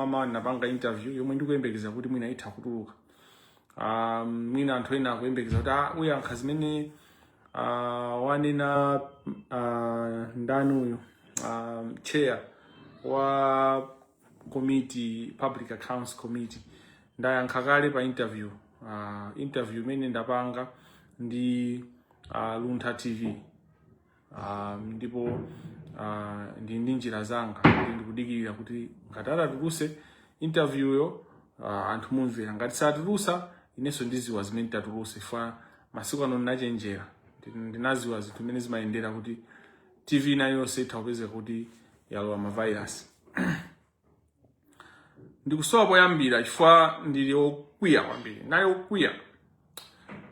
ama dinapanga interview yomwe ndikuyembekeza kuti mwina itha kutuluka um, mwina anthu ena akuyembekeza kuti ah, uyankha zimene uh, wanena uh, ndani uyu um, chair wa committee public accounts committee ndayankha kale pa interview uh, interview imene ndapanga ndi uh, luntha tv Ah, ndipo ah, ndili ndi njira zanga kuti ndikudikirira kuti ngati atatuluse interviewyo ah, anthu mumvera ngati satulusa inenso ndiziwa zimene nditatuluse fa masiku ano ndinachenjera Ndi- ndinaziwa zinthu zimene zimayendera kuti tv ina iliyonse itha kupezeka kuti yalowa mavairasi ndikusowa poyambira chifukwa ndili okwiya kwambiri nali okwiya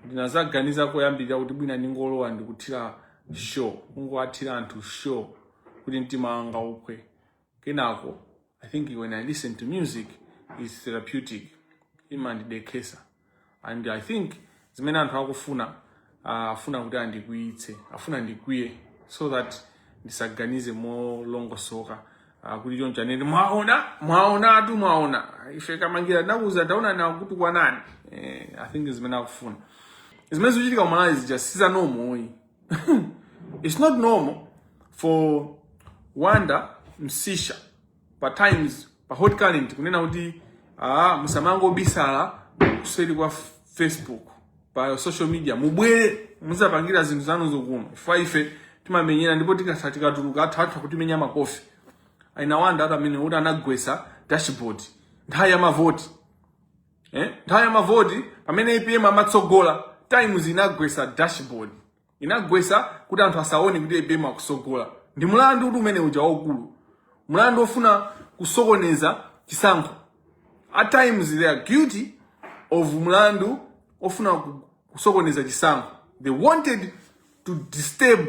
ndinazaganiza koyambirira kuti mwina ndingolowa ndikuthira show kungowathira anthu show kuti mtima wanga uphwe kenako i think when i listen to music is therapeutic imandidekhesa and i think zimene anthu akufuna uh, afuna kuti andikwiyitse afuna ndikwiye so that ndisaganize molongosoka uh, kuti choncho anene mwaona mwaona atu mwaona ife kamangira ndakuza ndaona na kuti kwanani eh, i think zimene akufuna zimene zikuchitika ku malawi zija siza normal oyi it's not normal for wanda msisha pa times pa hot current kunena kuti ah, musamangobisalira kuseri kwa f- facebook pa social media mubwere muzapangira zinthu zanuzo kuno chifukwa ife timamenyera ndipo tikasa tikatuluka anthu anthu akutimenya makofi a Wanda ati amene kuti anagwesa dashboard nthawi ya mavoti eh? nthawi ya mavoti pamene apm amatsogola times inagwesa dashboard inagwesa kuti anthu asaone kuti apm akusogola ndi mulandu kuti umene uja waukulu mulandu ofuna kusokoneza chisankho at times they are guilty of mulandu ofuna ku- kusokoneza chisankho they wanted to disturb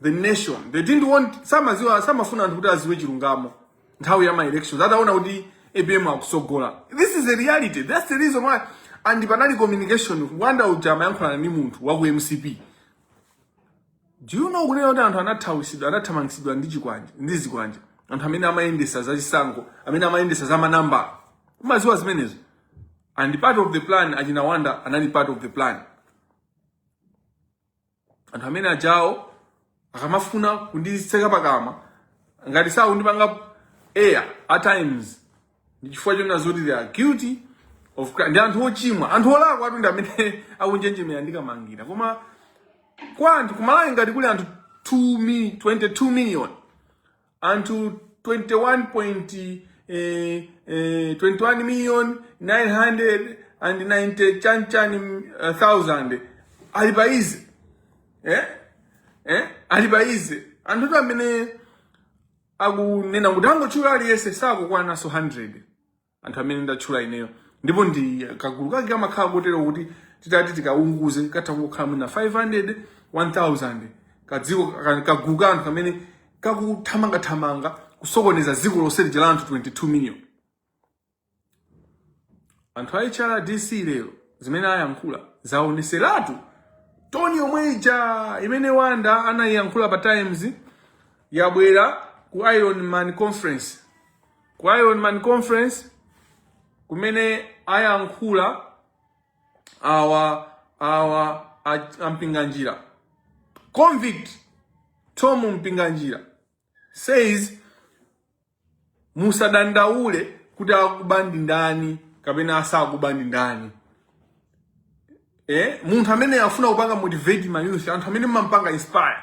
the nation they didn't want samaziwa samafuna anthu kuti aziwe chilungamo nthawi ya maelections ataona kuti apm akusogola this is a reality that's the reason why and panali communication wanda uja amayankhulana ndi munthu wa ku mcp do you know kunena kuti anthu anathawisidwa anathamangitsidwa ndi chikwanje ndi zikwanje anthu amene amayendesa za chisankho amene amayendesa za manambala umaziwa zimenezo and part of the plan achina wanda anali part of the plan anthu amene ajawo akamafuna kundiseka pakamwa ngati sakundipanga air at times ndi chifukwa chonena zoti they are guilty of crime ndi anthu ochimwa anthu olakwa anthu ndi amene akunjenjemera ndikamangira koma kwa anthu kumalawi ngati kuli anthu 2 mi, 22 million anthu 21 point eh, eh, 21 million 990 chanichani uh, thousand ali pa izi eh? eh? ali pa izi anthutu amene akunena kuti tangotchula aliyense sakukwananso 100 anthu amene ndatchula ineyo ndipo ndi kagulu kake kamakhala kotero kuti titati tikaunguze katha kukhala mwina 500 1000 kadziko ka- kagulu ka anthu kamene kakuthamangathamanga kusokoneza dziko lonse lija la anthu 22 million anthu a hrdc lero zimene ayankhula zaoneseratu tone yomwe ija imene wanda anayiyankhula pa times yabwera ku iron man conference ku Iron Man Conference kumene ayankhula awa awa a- a Mpinganjira convict Tom Mpinganjira says musadandaule kuti akuba ndi ndani kapena asakuba ndi ndani eh munthu amene afuna kupanga motivate ma youth anthu amene mumampanga inspire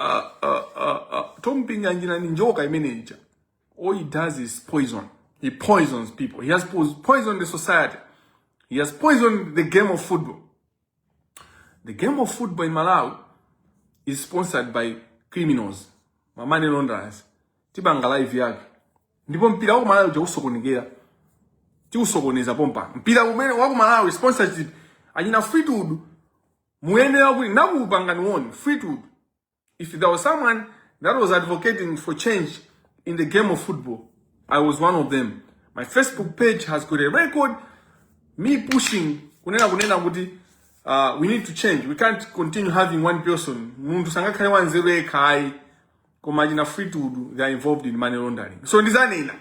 uh, uh, uh, uh, Tom Pinganjina ni njoka imeneja. All he does is poison. He poisons people. He has poisoned the society. He has poisoned the game of football. The game of football in Malawi is sponsored by criminals, ma money launderers. Tibanga live yake. Ndipo mpira wa Malawi usokonekera. Tiusokoneza pompa. Mpira umene wa Malawi sponsorship anyina Fleetwood muyenera kuti nakupangani woni fleetwood if there was someone that was advocating for change in the game of football i was one of them my facebook page has got a record me pushing kunena kunena kuti uh, we need to change we can't continue having one person munthu sangakhale wanzeru yekha ayi koma achina fitudu they are involved in money laundering so ndizanena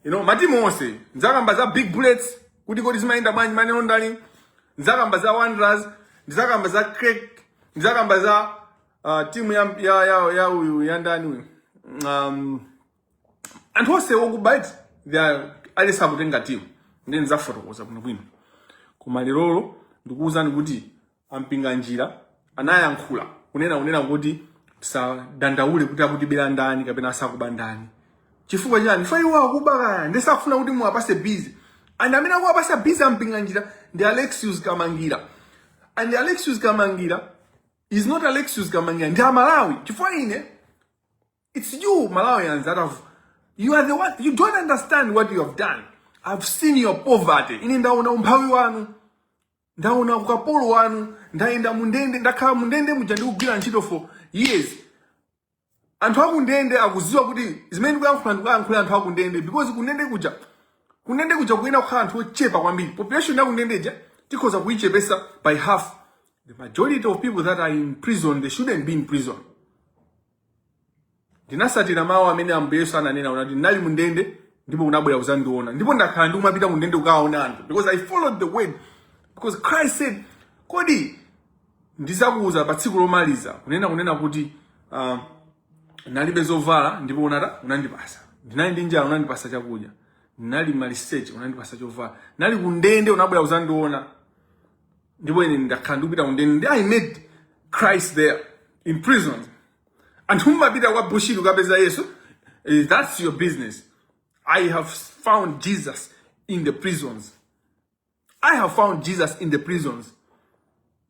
you know matimu onse ndizakamba za big bullets kuti kodi zimayenda bwanji money laundering ndizakamba za wanderers ndizakamba za crack ndizakamba za uh, timu ya ya ya ya uyu ya ndani uyu um, anthu onse okuba eti they are ayesa kutenga timu nde ndizafotokoza bwino bwino koma lerolo ndikuwuzani kuti a Mpinganjira anayankhula kunena kunena kuti tisadandaule kuti akutibera ndani kapena asakuba ndani chifukwa chani chifukwa iwo akuba kaya nde sakufuna kuti muwapase busy and amene akuwapasa busy a Mpinganjira ndi Alexius Kamangira and Alexius Kamangira is not Alexius Kamangira ndi a Malawi chifukwa ine it's you Malawians that have you are the one you don't understand what you have done I've seen your poverty ine ndaona umphawi wanu ndaona ukapolo wanu ndayenda mundende ndakhala mundende muja ndikugwira ntchito for years anthu akundende akuziwa kuti zimene ndikuyankhula ndikuyankhula anthu akundende because kundende kuja kundende kuja kuyenera kukhala anthu ochepa kwambiri population yakundendeja tikhoza kuyichepesa by half the majority of people that are in prison they shouldn't be in prison ndinasatira mawu amene ambuye yesu ananena anati ndinali mu ndende ndipo unabwera kuzandiona ndipo ndakhala ndikumapita mu ndende kukawaona anthu because i followed the word because christ said kodi ndizakuuza pa tsiku lomaliza kunena kunena kuti uh, nalibe zovala ndipo unata unandipasa ndinali ndi njala unandipasa chakudya ndinali maliseche unandipasa chovala ndinali kundende unabwera kuzandiona ndipo ine ndakhala ndikupita kundende ndi i met christ there in prison anthu mumapita kwa bushiri kukapeza yesu eh, that's your business i have found jesus in the prisons i have found jesus in the prisons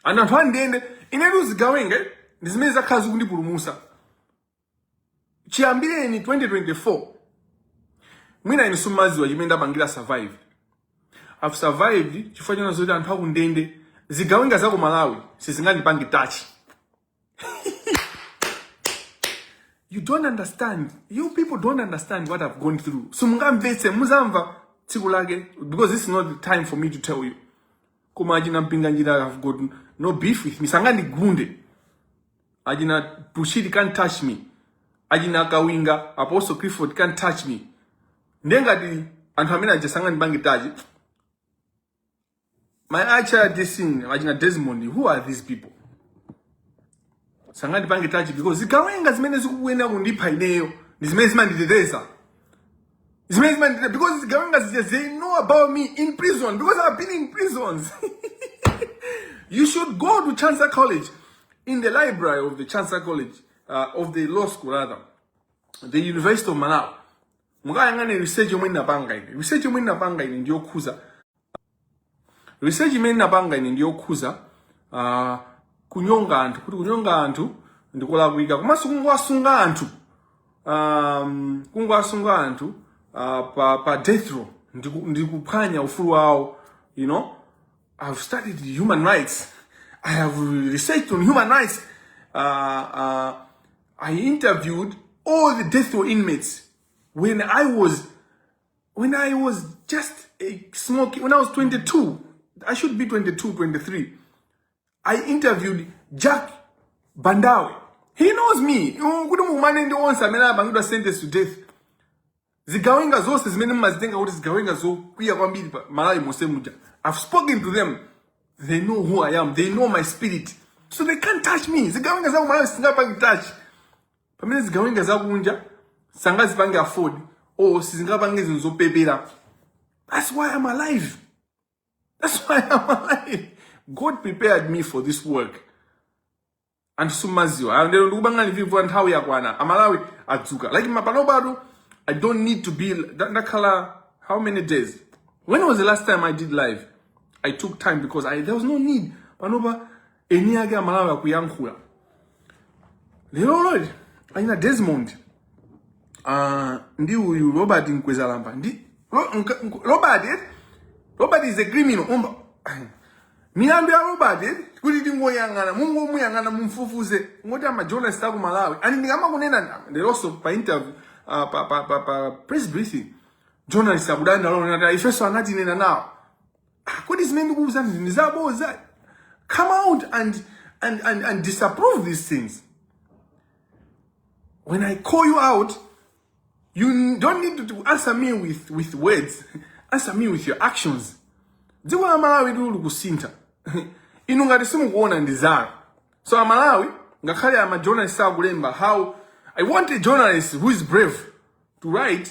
and anthu andende inetu zigawenga ndi zimene zakhala zikundipulumusa chiyambireni 2024 mwina inu simumadziwa chimene ndapangira survive i've survived chifukwa chonena zoti anthu akundende zigawenga za ku malawi sizingandipange touch you don't understand you people don't understand what i've gone through simungamvetse muzamva tsiku lake because this is not the time for me to tell you koma achina mpinganjira i've got no beef with me sangandigunde achina bushiri can't touch me achina kawinga apostle clifford can't touch me ndiye ngati anthu amene aja sangandipange tachi my acha dissing achina desmond who are these people sangandipange tachi because zigawenga zimene zikukuyenera kundipha ineyo ndi zimene zimanditeteza zimene zimandita because zigawenga zija they know about me in prison because i've been in prisons you should go to chancellor college in the library of the chancellor college uh, of the law school rather the university of malawi mukayang'ane research yomwe ndinapanga ine research yomwe ndinapanga ine ndiyokhuza research imene napanga ine ndiyokhuza uh, kunyonga anthu kuti kunyonga anthu ndikulakwika komanso kungowasunga anthu um, kungowasunga anthu uh, pa, pa death row ndiku- ndikuphwanya ufulu wawo you know i've studied human rights i have researched on human rights uh, uh, i interviewed all the death row inmates when i was when I was just a smoky, when I was 22, I should be 22, 23, I interviewed Jack Bandawe. He knows me. Kuti mumane ndi onse amene anapangidwa sentence to death. Zigawenga zonse zimene mmazitenga kuti zigawenga zokwiya kwambiri pa Malawi monse muja. I've spoken to them. They know who I am. They know my spirit. So they can't touch me. Zigawenga za Malawi sizingapange touch. pamene zigawenga zakunja sangazipange afford or sizingapange zinthu zopepera that's why i'm alive that's why i'm alive god prepared me for this work anthu simumaziwa Ah, ndiye ndikupangani review nthawi yakwana amalawi adzuka like panopa i don't need to be nda- ndakhala how many days when was the last time i did live i took time because I, there was no need panopa eni ake amalawi akuyankhula lero loli achina Desmond uh, ndi uyu robert mkwezalamba ndi Ro, nka, nk- robert eh? robert is a criminal umba milandu ya robert eh? kuti tingoyang'ana mungomuyang'ana mumfufuze ngoti amajournalist aku malawi ani ndikamakunena ndama leronso pa interview uh, pa, pa, pa, pa press briefing journalist akudandaula ponena kuti ifenso anatinena nawo Ah, kodi zimene ndikukuwuzanizi ndi zaboza come out and, and, and, and disprove these things when i call you out you don't need to answer me with, with words answer me with your actions dziko la malawi ili likusintha inu ngati simukuona ndi zanu so amalawi ngakhale amajournalist akulemba how i want a journalist who is brave to write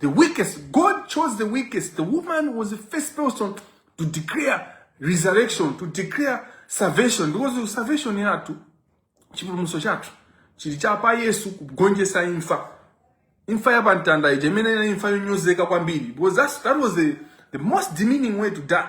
The weakest. God chose the weakest. The woman was the first person to declare resurrection, to declare salvation. Because salvation yatu, chipulumuso chatu, chili chapa Yesu kugonjesa infa. Infa ya bantanda, ijemene na infa yonyozeka kwa mbili. Because that's, that was the, the most demeaning way to die.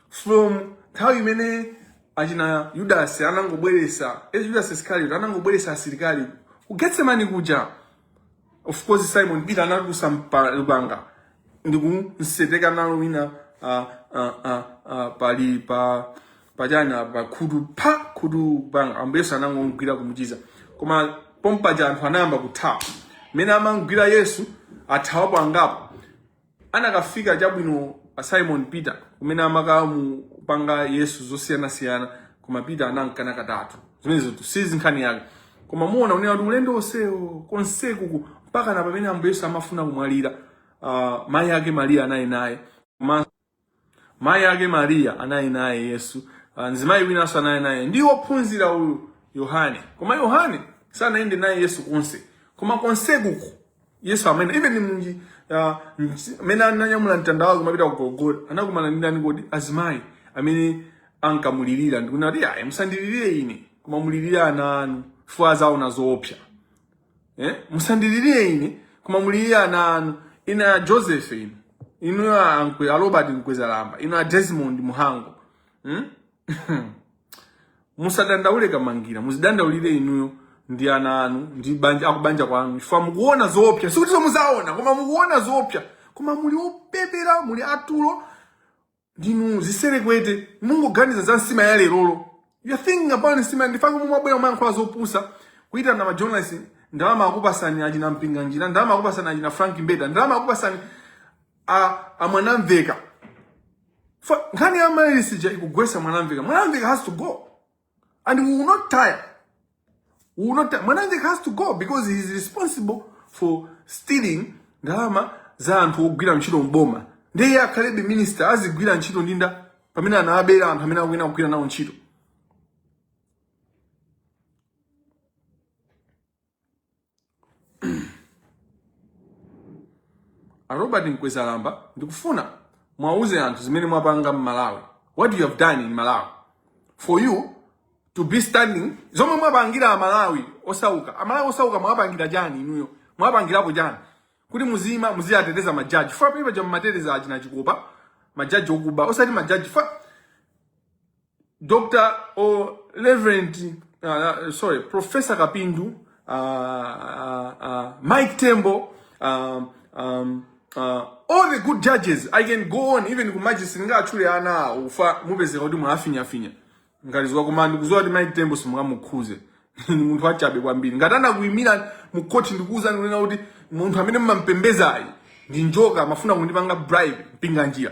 from nthawi imene achina yudasi anangobweresa eh, yudasi iscariot anangobweresa asilikali ku getsemani kuja of course simon peter anatulusa mpa- lupanga ndikumsenga nalo wina ah, ah, ah, ah, pali pa pachana pa khutu pa khutu banga ambuye yesu anangomgwira kumuchiza koma pompaja anthu anayamba kuthawa pomwe amamgwira yesu athawapo angapo anakafika chabwino Simon Peter kumene amakamupanga Yesu zosiyanasiyana koma Peter anamkana katatu zimenezo sizi nkhani yake koma muona kunena kuti ulendo onsewo konsekuku mpakana pamene ambuye Yesu amafuna kumwalira uh, mayi ake Maria anali naye koma Mayi ake Mariya anali naye Yesu. Ah, Mzimayi winanso anali naye ndi wophunzira uyu Yohane. Koma Yohane sanayende naye Yesu konse. Koma konsekuku Yesu amene even munthu ah, msi- amene ananyamula mtanda wake kumapita ku Golgotha anakumana ndi ndani kodi azimayi amene ankamulirira ndikunena kuti amayi musandilirire ine koma mulirire ana anu chifukwa azaona zoopsa. eh? musandilirire ine koma mulirire ana anu ine a joseph inu inu a Nkwe- a robert mkwezalamba inu a desmond muhango hmm? musadandaule kamangira muzidandaulire inuyo ndi ana anu ndi banja akubanja kwanu chifukwa mukuona zoopsa sikuti zoti muzaona koma mukuona zoopsa koma muli opepera muli atulo ndinu ziserekwete mungoganiza za nsima ya lerolo you're thinking about nsima ndifake mumabwera kumayankhula zopusa kuitana majournalist ndalama akupasani achina mpinganjira ndalama akupasani achina frank mbeta ndalama akupasani a, a mwanamveka Fa- nkhani ya amaryllis ija ikugwesa mwanamveka mwanamveka has to go And we will not tire. We will not tire. Mwanamveka has to go because he is responsible for stealing ndalama za anthu ogwira ntchito mboma. Ndiye iye akhalebe minister azigwira ntchito ndi ndani pamene anawabera anthu amene akuyena kugwira nawo ntchito. A Robert Mkwezalamba ndikufuna muwauze anthu zimene mwapanga m'Malawi. What you have done in Malawi for you to be standing zomwe mwapangira amalawi osauka amalawi osauka mwapangira chani inuyo mwapangirapo chani kuti muzima muziyateteza majaji fa palibe cha mumateteza achina chikopa majaji okuba osati majaji fa Dr. or Reverend, uh, uh, sorry, Professor Kapindu, uh, uh, uh, Mike Tembo, um, um, uh, all the good judges, I can go on even ku magistrate ngati ndatchula ana ufa mupeze kuti mwafinya finya. Ngati ziwa koma ndikudziwa kuti Mike Tembo simungamukhuze. Ndi munthu wachabe kwambiri. Ngati anakuimira mu court ndikuuza kunena kuti munthu amene mumampembedzayu ndi njoka amafuna kundipanga bribe mpinga njira.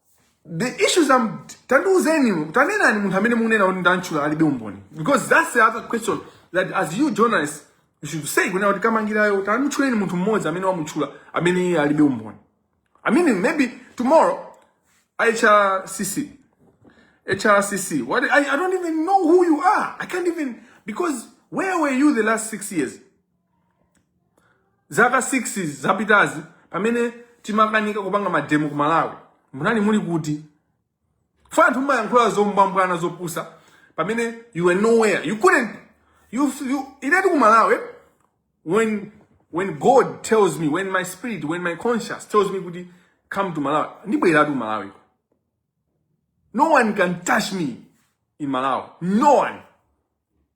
the issues I'm tandiuzeni tanenani munthu amene mukunena kuti ndamutchula alibe umboni because that's the other question that as you journalists you should say kunena kuti kamangirayo tanditchuleni munthu mmodzi amene wamutchula amene iye alibe umboni i mean maybe tomorrow hrcc hrcc what I, i don't even know who you are i can't even because where were you the last six years Zaka 6 zapitazi pamene timakanika kupanga mademo ku Malawi, munali muli kuti? Fa anthu mumayankhula zombwambwana zopusa pamene you were nowhere. You couldn't you you inetu ku Malawi when when God tells me when my spirit when my conscience tells me kuti come to Malawi ndibweratu ku Malawi. No one can touch me in Malawi. No one.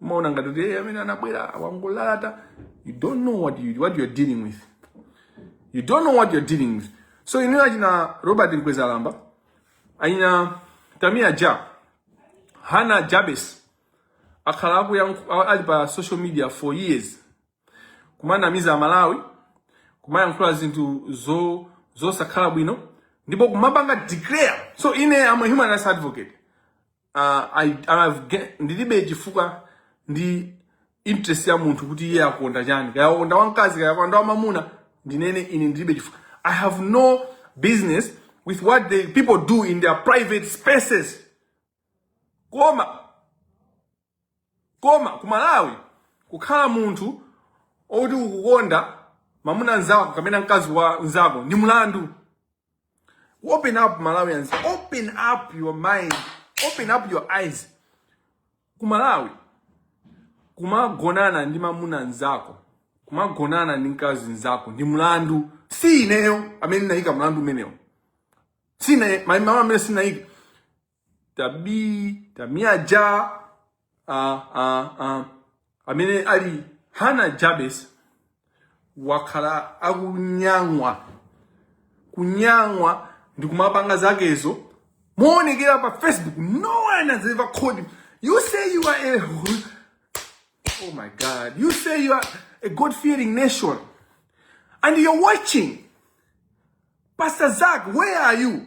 umaona ngati kuti "Eh, amene anabwera wangolalata you don't know what you, what you're dealing with you don't know what you're dealing with so inuyo achina robert mkwezalamba achina tamia ja hana jabes akhala akuyank- a- ali pa social media for years kumanamiza amalawi kumayankhula zinthu zo zosakhala bwino ndipo kumapanga declare so ine am a human rights advocate uh, I, I've get, ndilibe chifukwa ndi interest ya munthu kuti iye akukonda chani kaya akukonda wamkazi kaya akukonda wamamuna ndinene ine ndilibe chifukwa i have no business with what the people do in their private spaces koma koma ku malawi kukhala munthu okuti ukukonda mamuna nzako kapena mkazi wa nzako ndi mlandu Open up Malawians. Open up your mind. Open up your eyes. Kumalawi. Kumagonana ndi mamuna nzako. Kumagonana ndi mkazi nzako. Ndi mlandu. Si ineyo amene ndinaika mlandu umenewo. Sine, amene ndinaika. tabii tamiaja uh, uh, uh, amene ali hana jabes wakhala akunyang'wa kunyang'wa ndi kumapanga zakezo moonekera pa facebook no one has ever called him you say you are a oh my god you say you are a god fearing nation and you're watching pastor zak where are you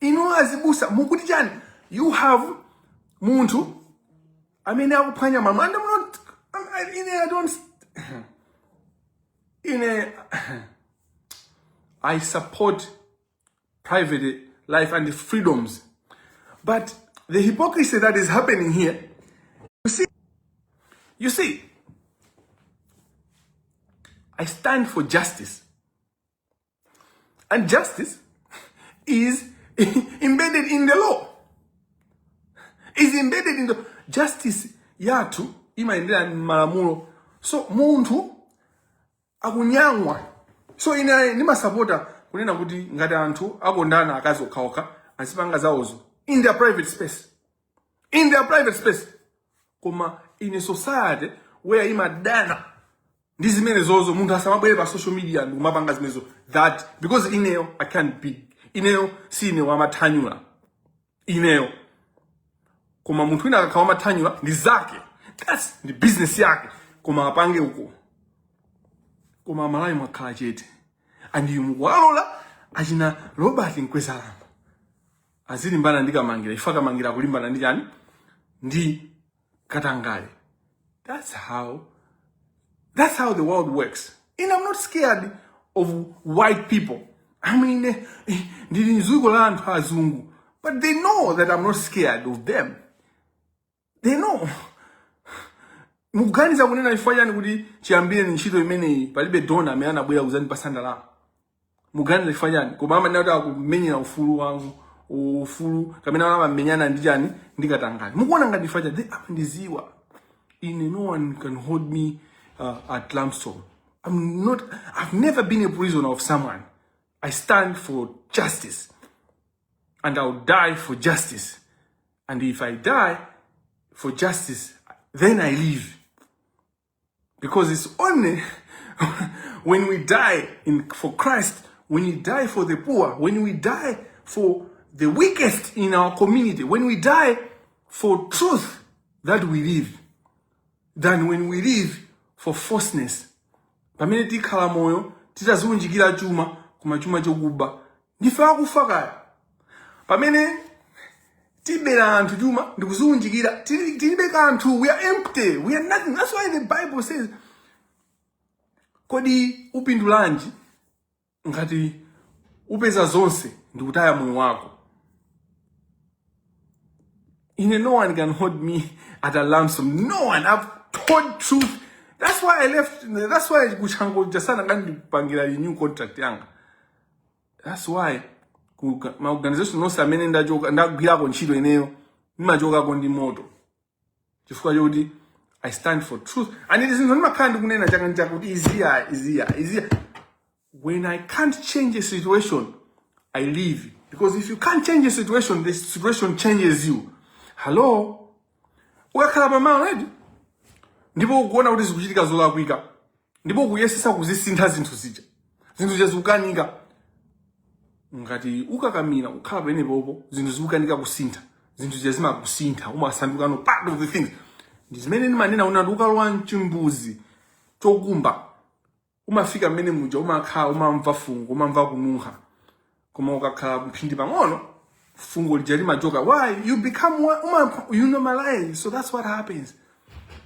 inu azibusa mukuti chani you have munthu amene akuphwanya mamanda muno ine i don't ine i support private life and freedoms but the hypocrisy that is happening here you see you see i stand for justice And justice is embedded in the law. Is embedded in the justice yathu imayendera malamulo. So munthu akunamwa. So ine ndimasapota kunena kuti ngati anthu akondana akazi okhaokha azipanga zawozo in their private space. In their private space. Koma in a society where imadana ndi zimenezozo munthu asamabwere pa social media ndikumapanga zimenezo that because ineyo i can't be ineyo si ine wamathanyula ineyo koma munthu wina akakhala wamathanyula ndi zake that's ndi business yake koma apange uko koma amalawi mwakhala chete and you mukuwalola achina robert mkwezalamba azilimbana ndi kamangira if kamangira akulimbana ndi chani ndi katangale that's how that's how the world works and i'm not scared of white people i mean eh, eh, ndili mziko la anthu azungu but they know that i'm not scared of them they know mukuganiza kunena chifukwa chani kuti chiyambire ni ntchito imeneyi palibe dona amene anabwera kuzandipatsa ndalama muganiza chifukwa chani koma amanena kuti akumenyera ufulu wangu ufulu kamene ana amamenyana ndi chani ndi katangale mukuona ngati chifukwa chani amandidziwa ine no one can hold me uh, at ransom i'm not i've never been a prisoner of someone i stand for justice and i'll die for justice and if i die for justice then i live Because it's only when we die in, for Christ, when we die for the poor, when we die for the weakest in our community, when we die for truth that we live, than when we live for falseness. Pamene tikhala moyo titaziunjikira chuma koma chuma chokuba ndife akufa kale pamene tibera anthu chuma ndikuziunjikira tili- tilibe kanthu we are empty we are nothing that's why the bible says kodi upindulanji ngati upeza zonse ndikutaya moyo wako ine no one can hold me at a ransom no one i've told truth that's why i left that's why ku chanco sanakandipangire renew contract yanga that's why ku ga- ma organization onse amene ndachoka ndagwirako ntchito ineyo ndimachokako ndi moto chifukwa chokuti i stand for truth and it is zinthu ndimakhala ndikunena chaka ndi chaka kuti izi izi izi when i can't change a situation i leave because if you can't change a situation the situation changes you hello ukakhala pamalo ndipo ukuona kuti zikuchitika zolakwika ndipo ukuyesetsa kuzisintha zinthu zija zinthu zija zikukanika ngati ukakamira kukhala pomwepopo zinthu zikukanika kusintha zinthu zija zimakusintha umasandukano part of the things ndi zimene ndimanena kunena kuti ukalowa mchimbuzi chokumba umafika mmene muja umakhala umamva fungo umamva kununkha koma ukakhala mphindi pang'ono fungo lija limachoka why you become one- uma, you normalize so that's what happens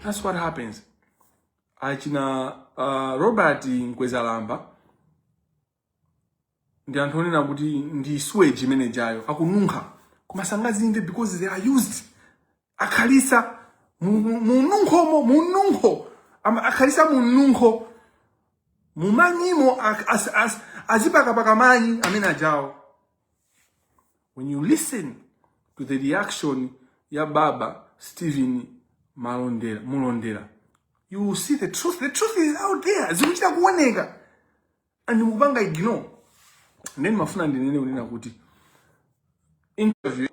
that's what happens achina uh, robert mkwezalamba ndi anthu onunkha kuti ndi sewage imeneijayo akununkha koma sangazimve because they are used akhalisa mununkhomo mununkho Ama- akhalisa mununkho m'manyimo ak- as- as- azipakapaka manyi amenewajawo when you listen to the reaction ya baba stephen malondera mulondera you will see the truth the truth is out there zikuchita kuoneka and mukupanga ignore nde ndimafuna ndinene kunena kuti a news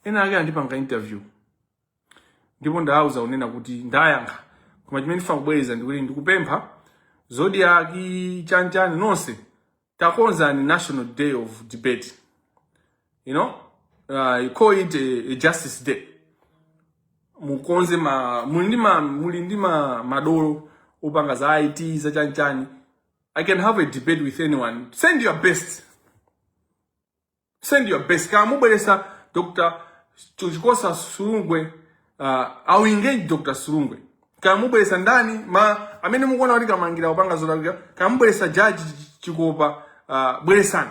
ena ake andipanga interview ndipo ndawauza kunena kuti ndayankha koma chimene ndifuna kubwereza ndikuti ndikupempha zodiac chanchani nonse takonzani national day of debate you know uh, you call it a, a justice day mukonze ma muli ndi ma muli ndi ma madolo opanga za IT za chanchani I can have a debate with anyone send your best send your best kaya mubweresa Dr. Chikosa Silungwe uh, I'll engage Dr. Silungwe kaya mubweresa ndani ma amene mukuona kuti kamangira opanga zolakwika kaya mubweresa judge Chikopa uh, bweresani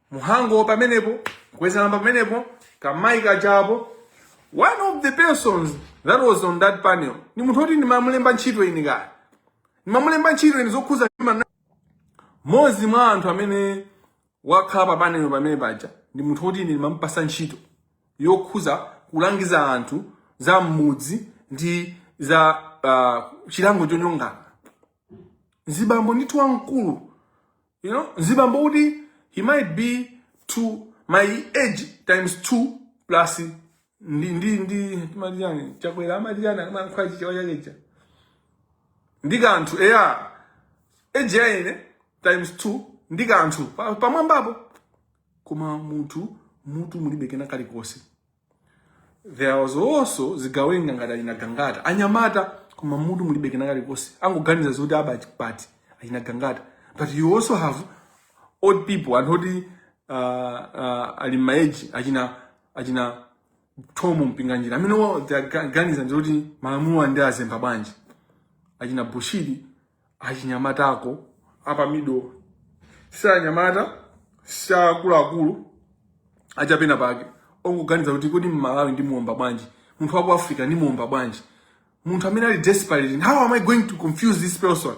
mhango pamenepo mkwezalamba pamenepo kamayi kajapo one of the persons that was on that panel ni munthu oti ndimamulemba ntchito ine kaya ndimamulemba ntchito ine zokhuza human mmodzi mwa anthu amene wakhala pa panel pamene paja ndi munthu oti ine ndimamupasa ntchito yokhuza kulangiza anthu za mmudzi ndi za uh, chilango chonyongana nzibambo ndithu wamkulu you know nzibambo kuti he might be to my age times 2 plus ndi ndi ndi timati chani chakwera amati chani amayankhula chichewa chakecha ndi kanthu eya age ya ine times 2 ndi kanthu Pa- pamwambapo koma munthu mutu mulibe kena kalikonse there was also zigawenga ngati achina gangata anyamata koma mutu mulibe kena kalikonse angoganiza zoti aba bwanji achina gangata but you also have old people anthu oti uh, uh, ali maeji achina achina thomo mpinganjira amene wa- they akuganiza ndikuti malamulo ndiazemba bwanji achina bushiri achinyamata ako apamidowa si anyamata si akuluakulu achapena pake ongoganiza kuti kodi mmalawi ndimuwomba bwanji munthu wa ku africa ndimuwomba bwanji munthu amene ali desperate and how am i going to confuse this person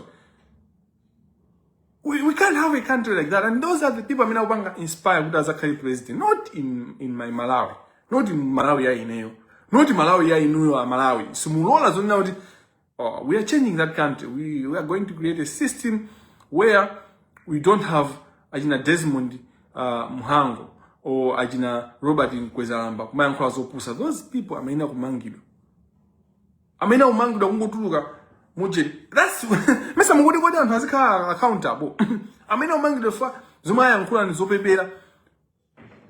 we, we can't have a country like that and those are the people amene akupanga inspire kuti azakhale president not in, in my malawi not in malawi ya ineyo not malawi ya inuyo amalawi simulola zonena kuti Oh, we are changing that country. We, we are going to create a system where we don't have achina Desmond uh, Mhango or achina Robert Mkwezalamba kumayankhula zopusa. Those people amayena kumangidwa. Amayena kumangidwa kungotuluka muje. That's mesa mungodi kodi anthu azikhala accountable. amayena kumangidwa fa zomwe ayankhula ni zopepera.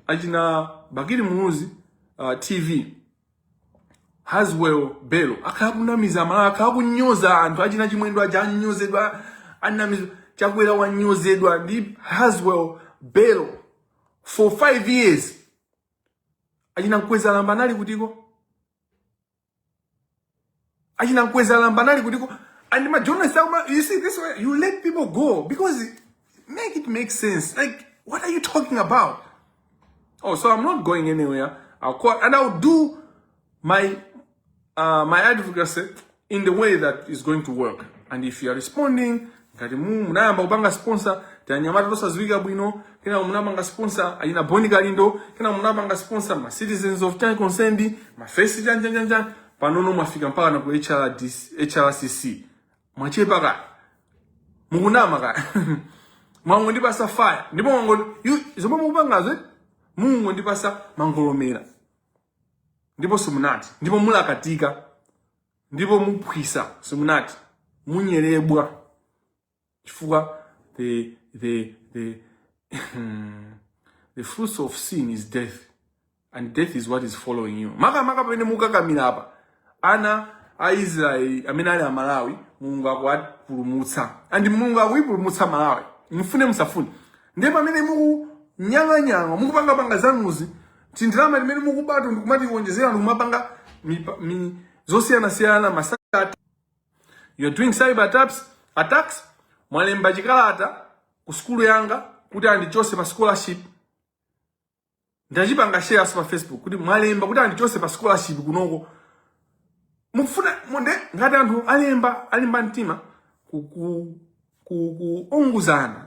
achina bakili muluzi uh, tv haswell belo akhala kunamiza amalawi akhala kunyoza anthu achina chimwendo aja anyozedwa anamizwa chakwera wanyozedwa ndi haswell belo for five years achina mkwezalamba anali kutiko achina mkweza lambanali kutiko and my journalists are you see this way you let people go because make it make sense like what are you talking about oh so i'm not going anywhere i'll call and i'll do my uh, my advocacy in the way that is going to work and if you are responding ngatimu munayamba kupanga sponsor tanyamata tosaziwika bwino kenaka munapanga sponsor achina boni kalindo kenaka munapanga sponsor ma citizens of time concerned ma face chanja chanja panono mwafika mpaka na ku HRDC, HRCC mwachepa ka mukunama ka mwangondipasa fire ndipo mwango yu- zomwe mukupangazo eh? mukundipasa mangolomera ndipo simunati ndipo mulakatika ndipo muphwisa simunati munyerebwa chifukwa the the the the fruits of sin is death and death is what is following you makamaka pamene mukakamira apa ana a israeli amene ali amalawi mulungu akuwapulumutsa and mulungu akuipulumutsa malawi mufune musafune ndiye pamene mukunyang'anyang'a mukupangapanga zanuzi tindalama limene mukubato ndikumatiwonjezera ndikumapanga zosiyanasiyana masaka you're doing cyber attacks, attacks mwalemba chikalata ku sukulu yanga kuti andichose pa scholarship ndachipanga shareso pa facebook kuti mwalemba kuti andichose pa scholarship kunoko mufuna munde ngati anthu olemba olimba mtima kuongozana